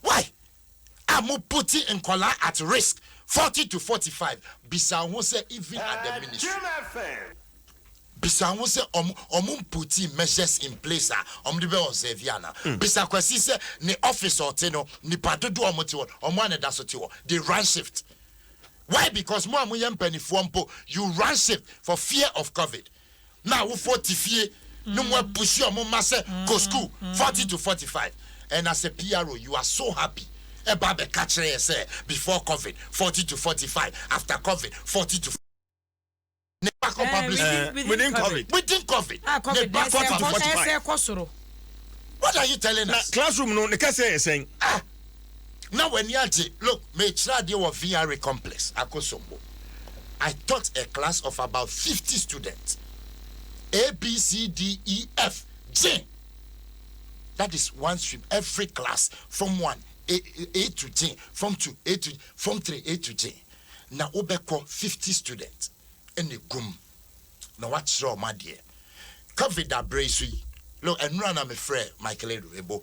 Why a mo putti nkɔlaa at risk forty to forty five bisa wo ho sɛ even at the ministry bisa wo ho sɛ ɔmo ɔmo mputti measures in place a ɔmo de bɛ observe ana bisa kwasi sɛ ne office a ɔte no nipa dodoɔ a ɔmo te hɔ ɔmo a na ɛda so te hɔ they run shift why because mo a mo yɛ mpanifoɔ mpo you run shift for fear of covid. na awofoɔ te fie na ɔmo apushi ɔmo mma sɛ kɔ school forty to forty five and as a PRO you are so happy ɛba abɛka kyerɛ yɛn sɛ before covid forty to forty five after covid forty to ne ba kɔ public school within covid within covid ah, ne ba kɔ forty to forty five what are you telling us na classroom no ne kɛseɛ yɛ sɛn ah na w'ani agye look mekyerɛ adeɛ wɔ VRA complex Akosombo I taught a class of about fifty students ABCDEF Gyen that is one stream every class form one A A to Gyen form two A to form three A to Gyen na wobɛkɔ fifty students ɛna ɛgum na wakyerɛ wɔn adeɛ covid aberɛ yi so yi look ɛnora na mefrɛ Michael Ado Ebo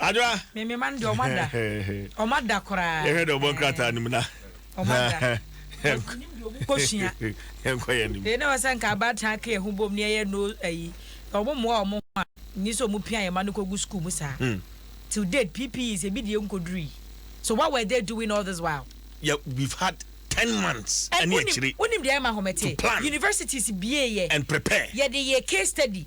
Adwoa. Me me man deɛ ɔmo ada. Ɔmo ada koraa. Yɛhwɛ deɛ ɔbɔ nkrataa no mu na. Ɔmo ada. Ɔmo nim deɛ ɔmo kɔ sua. Yɛnkɔ yɛn nim. Yɛn na wɔsɛ nka abaatan aka yɛn ho bom ne yɛyɛ no ayi. Ɔmo mmoa ɔmo ho a. Nyi sɛ ɔmo pia yɛn ma no kɔ gu sukuu mu saa. Hmm. Till date PPE sɛ ebi deɛ nkoduru yi. So what were they doing all this while? Yeah, we've had ten months ɛne akyire. Wonim deɛ ɛma home te? Universities bie yɛ. And prepare. Yɛde yɛ case study.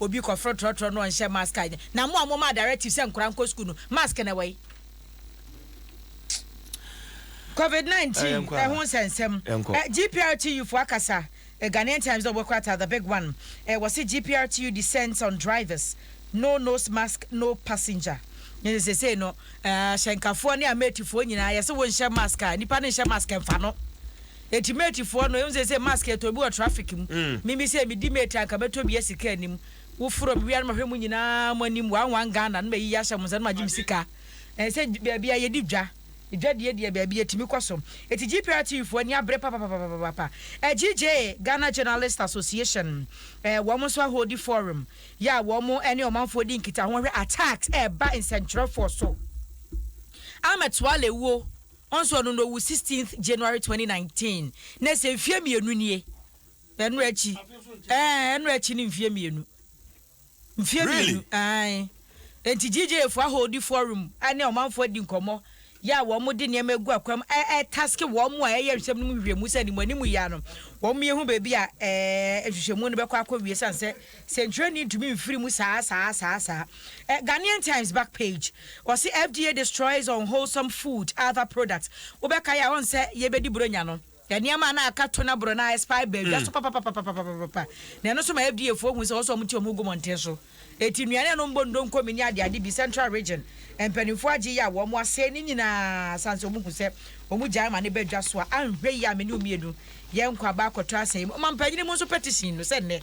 Obi kɔforo trɔtrɔ no ɔnhyɛ mask a ɛnyɛ na mo a momaa directive sɛ nkwadaa nkɔ sukuu no mask na ɛwɔ he? Covid 19 ɛho nsɛnsɛm ɛ GPRTU foɔ akasa ɛ Ghanaian Times dɛ wɔbɛkorata the big one ɛ wɔse GPRTU descends on drivers no nose mask no passenger ne sɛ sesei no ɛ ahyɛnkafoɔ ne ameetifoɔ nyinaa yɛse wonhyɛ mask a nipa no nhyɛ mask ɛmfa no Eti mate foɔ no ehu seesei mask yɛtɔn bi wɔ traffic mu me me sei medi mate a nka mɛtɔ bi a sika nnim wofrɛ me wia no mahwɛ mo nyinaa mo anim one one Ghana na mayiyi ahyɛ mo nsa na magye me sika ɛnsɛ baabi a yɛdi dwa dwa deɛ deɛ baabi yɛtumi kɔ so eti GPR TV foɔ ani abere papapapapapa AGJ Ghana Journalist Association eh, wɔn nso ahodi forum yɛ a wɔn ne ɔmanfoɔ di nkitaho wɔhwɛ attacks ɛreba nsɛntwerɛfoɔ so Ahmed Suale wuo Ɔnsɔr no na owu sixteenth January twenty nineteen na sɛ mfie mmienu nie ɛno akyi ɛɛ ɛno akyi ne mfie mmienu mfie mmienu ae enti GJFoɔ aholdi forum ɛne ɔmanfoɔ adi nkɔmmɔ yɛ a wɔn de nneɛma egu akwam ɛɛ taske wɔn a ɛyɛ nsɛm no mu nhwehwɛmu sɛ animuanimu yɛ a no wɔn yɛ hu baabi a ɛɛ nhwehwɛmu no bɛkɔ akɔ wie san sɛ Sɛ dwuani ntumi mfiri mu saa saa saa saa eh, Ghanaian Times back page, wɔse FDA destroys unwholesome food other products, wobɛkae a ɔnsɛ yɛbɛdi bronya no, nneɛma a na aka tuna borɔ no a expire baa dwa so papapapapapapapa, na ɛno nso ma FDA foɔ hu sɛ wɔsɛ wɔn ti wɔn ho gu mmɔnten so, enti nnuane a na wɔbɔ ndonkomi ne adeade bi Central Region mpanimfoɔ agye yɛ a wɔn asɛe ne nyinaa sane sɛ wɔhu sɛ wɔn gyae ma no ba dwa so a anhwɛ yie a me ne wo mmienu yɛn nkwa bɛakɔtɔ asɛe mu, ɔmampanyini mu nso petition no sɛ nnɛ.